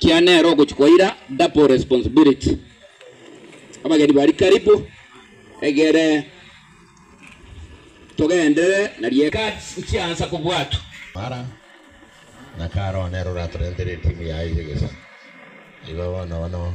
Kia nere ogochia kwa ira double responsibility. Abageni bari karibu egere togenderere na rieka. Cards chiansa kobwatwa. Mara na karo nere oratorentere etimu yaye y'egesaku. Igo bono bono.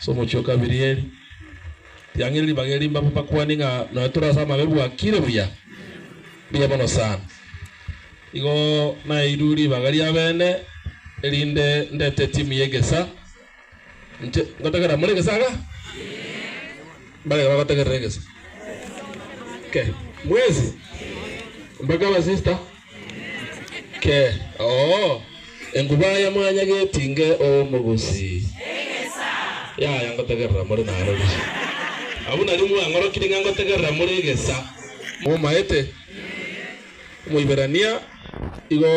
Ase omochie o kabiri eri, riang'iri ribaga eri mbabe bakwani ng'a nonya tore ase amabe bwakire buya. Mbuya mono sana. Igo naeirwe ribaga ri'abene erinde ndete etimu y'egesa. Inche ngotegerera more egesa iga? Mbareke bagotegerera egesa. Okay. Mwezi? Mpaka abasista? Ke, oo, enguba ya mwanya getinge omogusi. Yaya ngotegerera more narori. Abwo nario mwang'orokire ng'a ngotegerera more egesa. Momaete? Omoiberania igo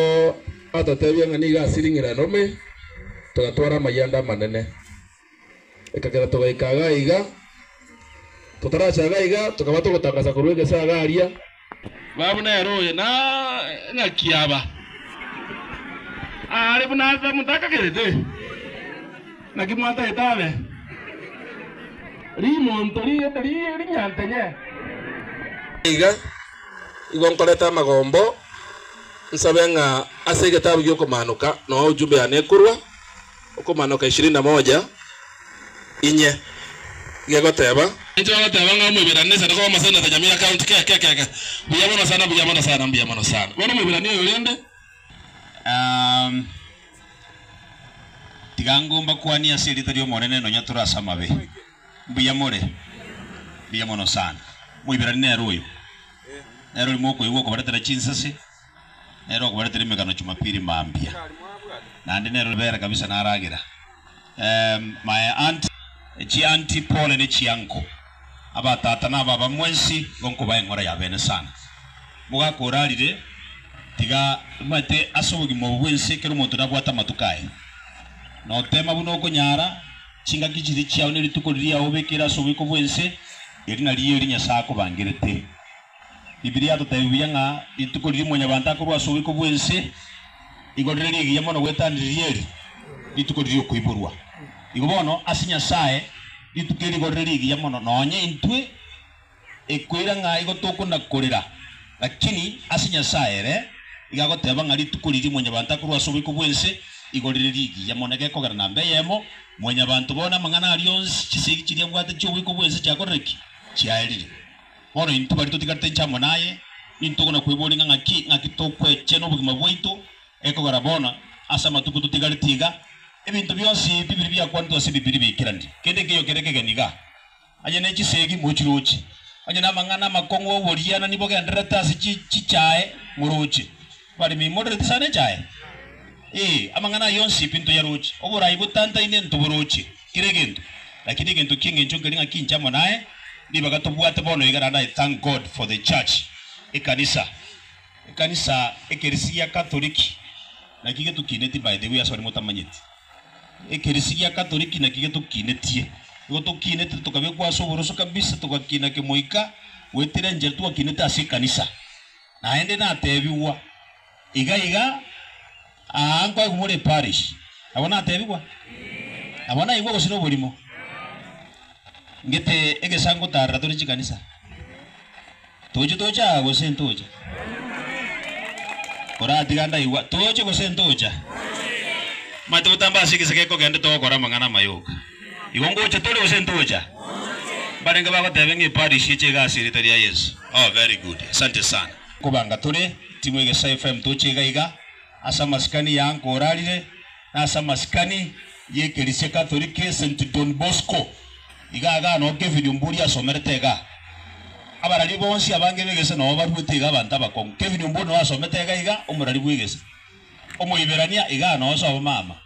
atotebia ng'a nigo ase ring'irane ome togatwara amayanda amanene. Ekagera togaika iga iga. Totaracha iga iga, tokaba togotangasa korwa egese iga aria. Baba buna ere oye na ng'aki aba are buna ase motakagerete. Naki mwatagete abe rimonto rigete rinyantenye. Iga igo nkorete amagombo nsabe ng'a ase egetabu gi'okomanoka noo ujumbe yane ekorwa. Okomanoka ishirini na moja, Inye, gegoteeba. Intwe bagoteba ng'a Omoiberania sende koba omoseneta nyamira county keke keke. Mbuya mono sana, mbuya mono sana, mbuya mono sana. Bono Omoiberania oyo rende. Aah, tiga ango mbakwanie ase erieta ri'Omonene nonya tore ase amabe. Mbuya more? Mbuya mono sana. Omoiberania nere oyo. Nere oyo mokoigwa okobaretera chinsase. Nere okobaretera emegano Jumapili mambia. Naende nere oribere kabisa naragera ehm my aunt chi auntie pole ne chi uncle aba tata na baba mwensi igo nkobae ng'ora ya bene sana mogaka orarire tiga omanyete ase obogima obo bwensi ekero omonto nabwate amatuko aye notema buna okonyara chingaki chiria chiao ne rituko riria obekire ase oboiko bwense eri nario eri Nyasae akobangerete Bibilia yatotebi buya ng'a rituko riria mwanyabanto akorwa ase oboiko bw'ense nigo rire rigiya mono gwetaniriria eri rituko riria okoiborwa. Igo bono ase Nyasae rituko eri nigo rire rigiya mono nonye intwe ekoira ng'a igo tokona korera, lakini ase Nyasae ere iga agoteba ng'a rituko riria mwanyabanto akorwa ase oboiko bw'ense nigo rire rigiya mono. Egekogera namba eyemo mwanyabanto bono amang'ana aria onsi chisegi chiria abwate chi'oboiko bw'ense chiakorire ki? Chiaerire. Bono intwe baria totigarete inche amo naye, nintogwa na kweboria ng'a ng'aki ng'aki tokwechena obogima bwaito, ekogera bono, ase amatuko totigarete iga, ebinto bionsi ebi biri biakwanetwe ase Ebibiria baikerani, kende ekeyo kere kegeni iga, onye ne chisegi mochiroche, onye namang'ana amakong'u 'oborianani bogendererete ase chichae moroche. Barimeimorerete chane chaye, ee, amang'ana aye onsi pi ntoyaroche, oboraai botantaine ntoboroche kera egento, lakini egento ki'engencho nkeri ng'a kinche amo naye, ribaga tobwate bono iga naende I thank God for the church, ekanisa, ekanisa, ekerisi gia Katoliki, naki getokinetie by the way asore motamanyeti, ekerisi gia Katoliki naki getokinetie, nigo tokinete tokabekwa ase oboroso kabisa, togakina kemoika goetera enchera twakinete ase ekanisa. Naende natebigwa iga iga, Aa nkoegwa more eparish. Nabo natebigwa, Nabo naigwe gose noborimo? Ngete egesa ngotarera tore chikanisa. Toche toche aa gose ntocha? Oratiga ndaigwa, Toche gose ntocha? Omanyete gotamba ase egese gekogenda togokora amang'ana amayoka. Igo ngocha tore gose ntocha? Mbarenge bagotebe ng'a eparish eche iga ase erieta ria Yesu. Oh very good. Asante sana. Kobanga tore timu egesa FM toche iga iga ase amasikani ya uncle orarire na ase amasikani ye ekerisia Catholic e St Don Bosco iga iga noo Kevin Omburi asomerete iga. Abarari bonsi abange begese noo baruete iga abanto abakong'u. Kevin Omburi noo asomete iga iga omorari bwegese. Omoiberania iga noo ase abamama.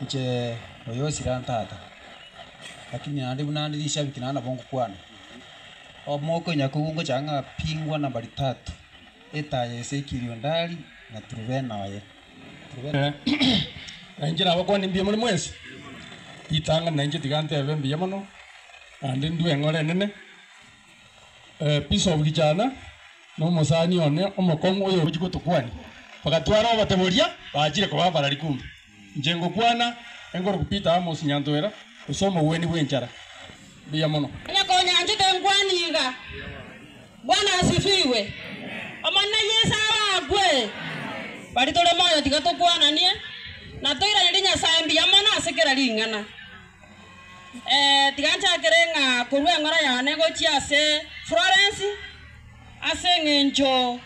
Inche oyo osira ntata, lakini naende buna nde rishabiki naende nabo ngokwana. Omooka onya kobua ngochaka ng'a pi ngwana mbari tatu, etaa ya ise ekirio ndari na turubena oye. Na inche nabakwane mbuya more mwensi, ritang'ani na inche tiga ntebe mbuya mono, naende ndue eng'ora enene. Ebisobu gichana na omosani one omokong'u oyoruchi gotokwania, bagatwara obote boria baachire koba abarari kumbe. Inche ngokwana enkoroku Peter amo Sinyantoera gose omogwenia bw'enchara. Mbuya mono. Onye konyanchete nkwane iga. Bwana asifiwe. Omonene Yeso abakwe. Baria tore moyo tiga tokwananie na toiranerie Nyasae mbuya mono ase kera ring'ana. Tiga nchakere ng'a korwa eng'ora yane gochia ase Florence, ase engencho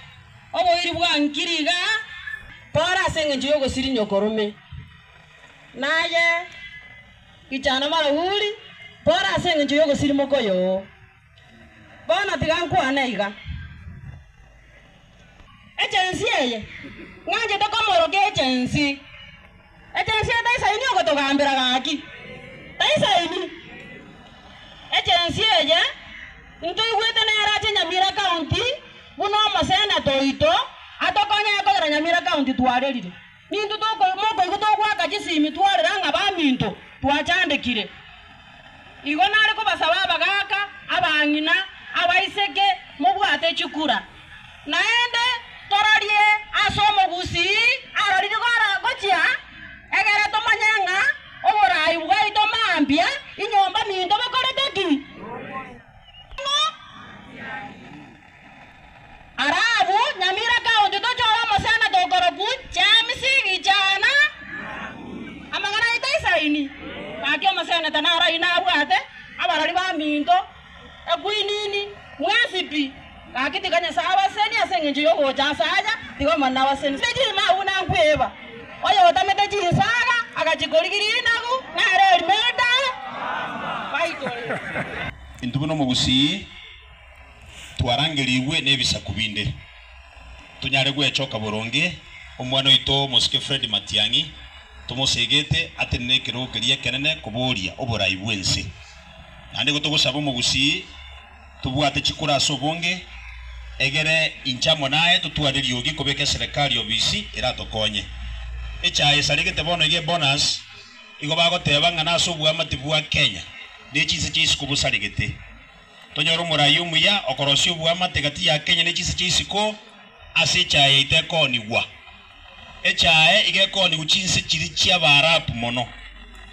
oboiri bwa nkiri iga, Pole ase engencho y'ogosirinyia okorume, naye Gichana Marahuri, pole ase engencho y'ogosirimoka oyoo. Bono tiga nkwane aiga, Egensi eye ng'anchete komoorokia egensi. Egensi eye taisaini ogotogambera gaki, taisaini. Egensi eye ntoigwete nere ache Nyamira County buna omoseneta oito atokonye ekogera Nyamira County twarerire. Nintwe mokoigwa togoaka chisimi twarera ng'a baminto twachandekire. Igo nare kobasaba abagaaka, abang'ina, abaiseke, mobwate chikura, naende tororie ase omogusii aroriri gochia, egere tomanye ng'a oboraai bwaito mambia inyomba minto bokorete ki. Ara abwo, nyamira kaonchwa tochore omosana tokorokwa James, Richana, amang'ana aito isaini. Gaki omoseneta nararie nabwate abarori baminto, ekwinini, mwensipi. Gaki tiga Nyasae abasesenie ase engencho y'ogocha aase aya, tiga Omonene abasesenie. Ase chirimo agwo nankwiba, oyotamete chinsaga agachikorigiria inagu, nare erimeri tabe, baitore. Intube nomogusii. twarangerigwe nebisaku binde, tonyare gwechoka boronge omwana oito omosuke Fred Matiang'i tomosegete atenene nekerogo keria ekenene koboria oborai bw'ense. Naende igo togosaba omogusii tobwate chikura ase obonge, egere inche amo naye totware eriogi kobeka eserekari obisi eratokonye. Echaye esaregete bono iga ebonus igo bagoteba ng'a nase oboamate bwa Kenya ne chinse chia isiko bosaregete. Tonyore omoraia omuya okorosia oboamate gati ya Kenya ne chinsa chia isiko ase echaye yaito ekoonigwa. Echaye iga ekoonigwa chinse chiri chia Baarabu mono.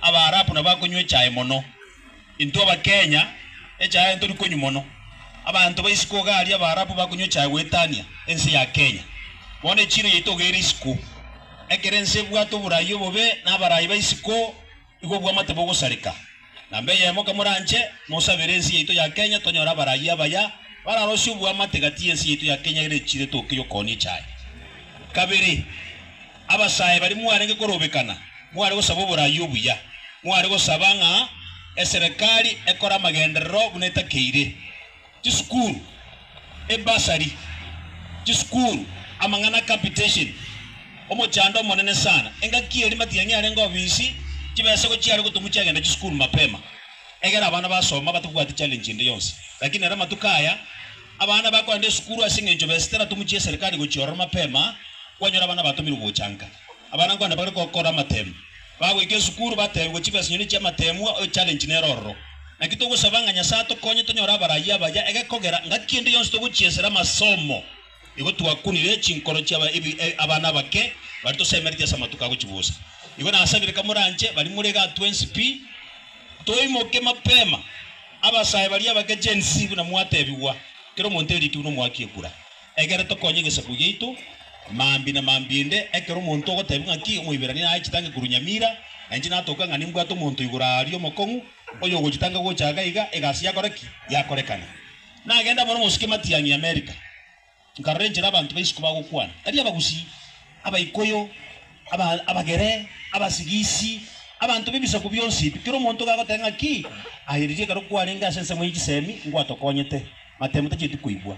Abaarabu nabo bakonywa echaye mono. Intwe Abakenya echaye aye ntori konywa mono. Abanto ba isiko iga aria Abaarabu bakonywa echaye goetania ense ya Kenya. Bono echiiro yaito iga ere isiko. Ekero ense ebwate oboraia obobe na abaraai ba isiko, Igo obwamate bogosareka namba eyemo kamoranche nosabere ense yaito ya Kenya tonyore abarayia abaya bararosie obwamate gati yense yaito ya Kenya ere echire toke yokooni echaye. Kabere abasae baria mwarenge korobekana mware gosaba oborayia obuya, mware gosaba ng'a eserekari ekore amagenderero buna etakeire Chisukuru, ebasari, chisukuru, amang'ana a capitation, omochando omonene sana, engaki eri matiang'i arenge obisi, chibesa igo chiare gotumwa chiagenda chisukuru mapema. Egera abana basoma batabwati challenge ende yonsi. Lakini ere amatuko aya, abana bakoenda esukuru ase eng'encho besa teratumwa chia eserikari gochia ororo mapema, kwanyora abana batomirwe gochanka. Abana nkwane bare gokora amateemwa, bagoika esukuru bateebigwe chibesa nyoni chi'amateemwa, oyo challenge nere ororo. Naki togosaba ng'a Nyasae atokonye tonyore abarayia abaya egekogera ngaki ende yonsi togochiesera amasomo. Igo twakunire chinkoro chia abana abake baria tosemeretie ase amatuko agochibusa. Igo nasabire kamoranche baria more igaa twensi pi, toimoke mapema. Abasae baria abake Gen-Z buna mwateebigwa, kera omonto erikire buna omwaka ekura. Ekero tokonya egesaku giaito, mambia na mambia inde, ekero omonto ogoteebia ng'aki Omoiberania naye chitange korwa Nyamira, na inche natoke ng'a nimbwate omonto igoro aaria omokong'u, oyogochitanga gocha iga iga, egasi yakora ki? Yakorekana. Nagenda amo nomosike matiang'i Amerika, nkarora enchera abanto ba isiko bagokwana, tari Abagusii, Abaikuyu, aba Abagere, Abasigisi, abanto b'ebisaku bionsi ebi. Kera omonto iga agoteeba ng'aki? Aye riria ekero kwarenge ase ensemo ye chisemi, nkwatokonyete, matemo tacheti koigwa.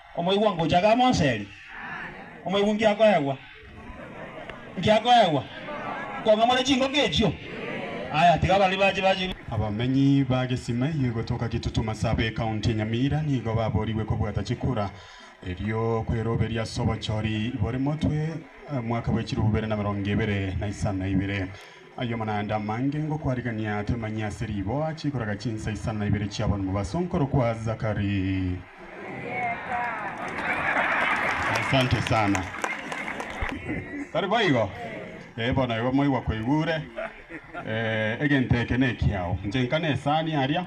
Omoigwa ngocha gamonseri, omoigwa ngiakoegwa, ngiakoegwa, nkong'amore chingoko echio. Aya, tiga baria bache bache. Abamenyi ba Gesimei gotoka Kitutu Masaaba Ekaunti ya Nyamira nigo baboorigwe kobwata chikura erio kweroberia ase obochori bore motwe omwaka bwe chilifu bibere na emerongo ebere na isano na ibere. Ayomo naende amange ngokwarigan'ia temanyia ase riboa chikoraga chinsa isano na ibere chi'aban'u mobaso nkorokwa Zachary. Asante sana. Tari boigo? Eh, bono igo moigwa koigure. Eh, egento eke nekiao. Inche nkane esani aria.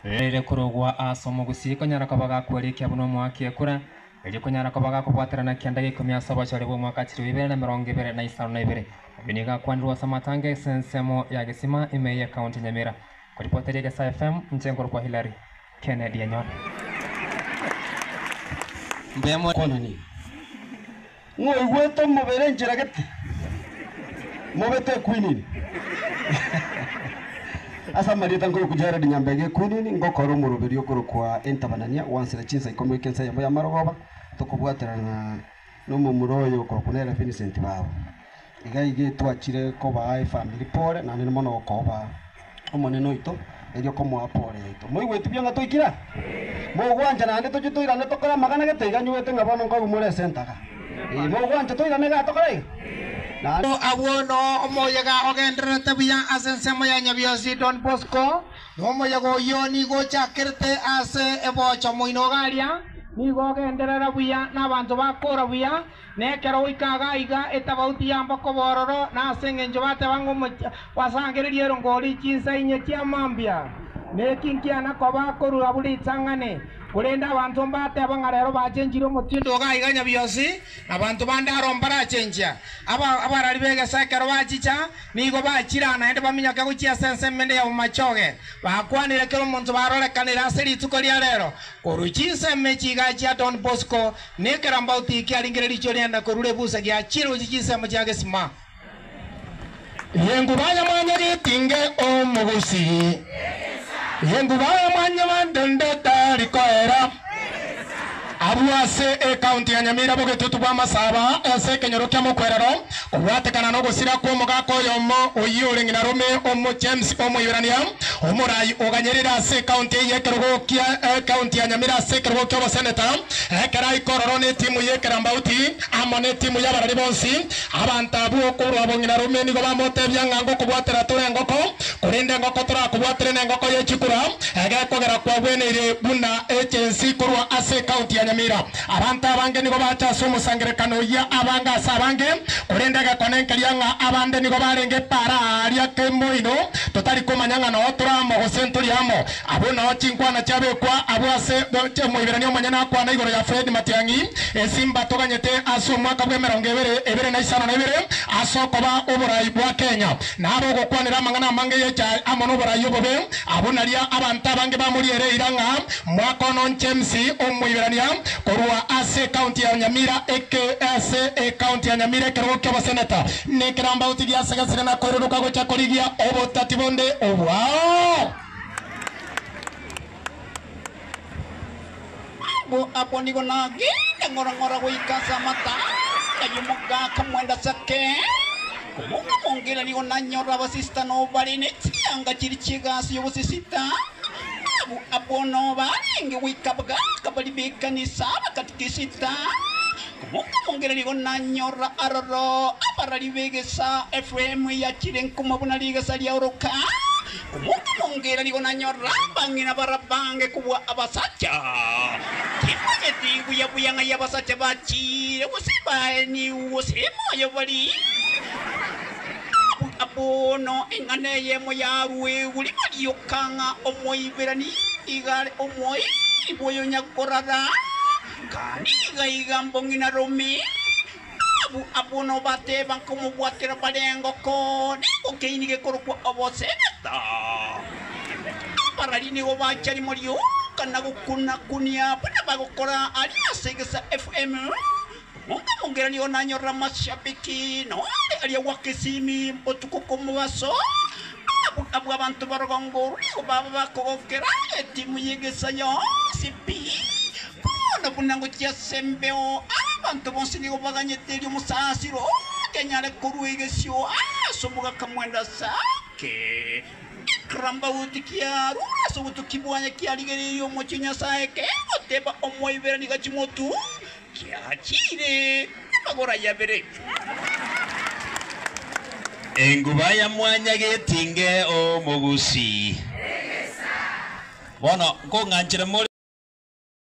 Eh. Ere korogwa ase omogusii konyara koba gakwarikia buna omoakekura. Erio konyara koba gakobwaterana kianda g'eikomi ase obochore bw'omwaka achire o ibere na emerongo ebere na isano na ibere. Ayio nigo akwanirwe ase amatanga ase ensemo ya Gesima, ime eye County Nyamira. Koripoteria Egesaa FM, inche nkorokwa Hilary Kennedy Enyoni. Mbuya moyo kwonania. Ng'oigwete omobere nchiragete, mobe tekwinini. Ase amarieta nkorokwa Jared Nyambega ekwinini, ngokora omoroberio okorokwa Entabanania gwansera chinsa ikomi goika ensa eyemo y'amarogoba, tokobwaterana na nomomura oyo okorokwa nere Vincent Babu. Iga iga etwachire kobaa efamiri pore, naende nimo nokobaa, Omonene oito, erio komoa pore yaito. Moigweti buna ng'a toikire? Mogwancha naende tochie toirane tokore amagana gete iga nyuete ng'a bono nkoigumora ase entaga. Ee, mogwancha toirane igaa tokore iga? Naende. Amo abwo no omoyega ogendererete buya ase ensemo ya Nyabiosi Don Bosco, na omoyega oyio nigo ochakerete ase eboocho moino iga aria, nigo ogenderera buya na abanto bakora buya, Na ekero goika iga iga etabauti yamba koba ororo, na ase engencho bateba ng'a omochie gwasangereria erongori, chinsa inye chia mambia, neki nkiana koba akorua buna ritang'ani. Korende abanto mbateba ng'a rero bachenchire omotindo iga iga nya bionsi, na abanto bande aro mbarachenchia. Aba abarari b'egesaku ekero bachicha, nigo bachira naende baminyoke gochia ase ense emende ya bomachoge, bakwanire kera omonto barorekanire ase rituko ria rero, korwa chinsa emechi iga chia Don Bosco Na ekerambauti eki arenge neriicho riane korwa rebusa gia chirochi chinsemo chia gesima. Yenguba ya mwanyagetinge omogusi, yenguba ya mwanyabandende tari koera. Abwo ase ekaunti ya Nyamira bogetutu bw'amasaba ase ekenyoro kia mokwerero, Kobwatekana nogosira kw'omogaka oyomo oyio ore ng'ina rome, Omojames Omoiberania, omoraai oganyerire ase ekaunti eye y'ekerogo kia Ekaunti ya Nyamira ase ekerogo ki'oboseneta, ekero aika ororo n'etimu y'ekerambauti amo n'etimu y'abarari bonsi. Abanto abwo okorwa bong'ina rome nigo bamotebia ng'a ngokobwatera tore engoko, korende engoko torakobwatere nengoko ye chikura, egekogera kwagweneire buna echensi korwa ase ekaunti ya Nyamira. Abanto abange nigo bacha ase omosangererekano oyio, abange ase abange, korende egekone nkeria ng'a abande nigo barenge epaara aaria kemoino, totari komanya ng'a nao tore amo gose ntori amo. Abwo nao chinkwana chiabekwa abwo ase Omoiberania omonyene akwana igoro ya Fred Matiang'i, Esimba toganyete ase omwaka bw'emerongo ebere, ebere na isano na ebere ase okoba oborai bwa Kenya. na abogokwanera amang'ana amange yecha amo noborai obobe, abwo naria abanto abange bamoriere eira ng'a mwaka ono James omoiberania korwa ase ekaunti ya Nyamira eke ase ekaunti ya Nyamira ekerogo ki'oboseneta nekerambauti giase gasiria na koirodoka gocha korigia obotati bonde obwao. Abwo abwo nigo nagenda ng'ora ng'ora goika ase amatano ay'omogaka mwanda ase ekeene. Omonto omonge ere nigo nanyora abasista nobo bare ne chianga chiria chi'egasi y'obosisita. Abwo abwo nobo barenge goika abagaka baria b'ekanisa abakatikisita. Omonto omonge ere nigo nanyora aroro abarari b'egesa Efraimu eyachire nkuma buna rigesa ria oroka. Omokunyongera nigo nanyora abang'ina barabange kobua abasacha. Timanyeti buya buya ng'ai abasacha bachiire, gose baenigwe, gose moyo bari. Buna bono eng'ana eyemo yaruegwe riba rioka ng'a Omoiberania nigo are omoiri bw'oyo onyakorara, kandi nigo aiga mbong'ina Rumi. Nabo abwo nabateba, nkomobwatera barengo kore ngokeini gekorokwa Obosebeta. Abarari nigo bacha rimo rioka na gokuna-kunia baria bagokora aria ase egesa FM. Omonto omongera nigo nanyorire amashabiki, na onde aria gwaka esimi botuko kw'omobaso. Nabo abwo abanto barogongo rwe nigo baba bakogokera etimu y'egesa yonsi pi. Bono buna ngochia ase embeo, abanto bonsi nigo baganyete erio omosaasiro otanyare korua egesio ase omogaka mwende ase ake. Ekerambaoti kiarwa ase obotuki bwaye kiarigereirie omochie o Nyasae, kegoteba, Omoibere nigo chimotunge, kiachiire amagoro aye abere. Enguba ya mwanya getinge omogusi. Bono nkong'anchere more.